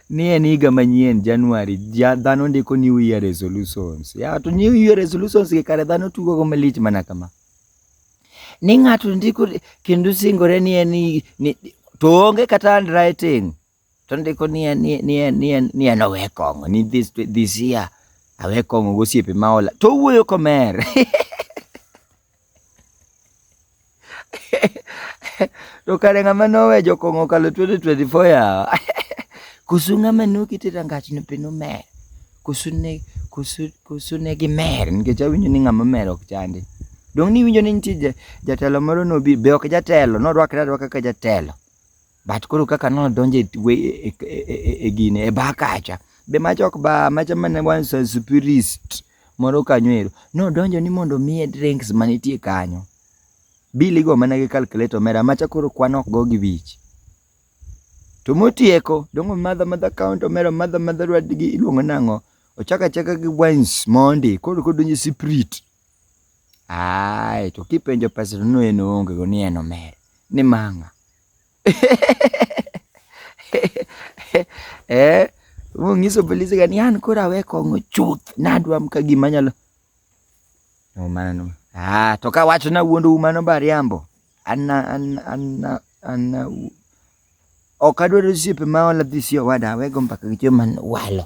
ni en higa manyien January, ja dhano ndiko new year resolutions. Ya to new year resolutions gi kare dhano tugo go malich mana kama. Ni ng'ato ndiko kendo singore ni en ni, to onge kata handwriting. To ndiko ni en ni en ni en ni en owe kong'o ni this this year awe kong'o gosiepe ma ola. To wuoyo komer. to kare ng'ama nowe jokong'o kalo 2024 yawa koso ng'ama nokete rangach no be nomer koso ne koso koso ne gimer nikech awinjo ni ng'ama mer ok chande dong' ni iwinjo ni nitie jatelo moro nobi be ok jatelo norwakre arwaka kaka jatelo But koro kaka nodonjo e, e, e, e gine e ba kacha be macha ok ba macha mana wan spirist moro kanyo ero nodonjo ni mondo miye drinks manitie kanyo bili go mana gi calculator mera macha koro kwan ok go gi wich to motieko dongo madha madha count omera madha madha rad gi iluongo nang'o ochaka chaka gi wines mondi koro kodonjo spirit ai to kipenjo pesa no en onge go ni en omer ni manga eh mong'iso polisi gani an koro awe kong'o chuth nadwa mka gima nyalo no mana no ah to ka wacho na wuondo mano bariambo anna anna anna anna ok adwaro osiepe ma ola dhi si owada awego mbaka gi joma walo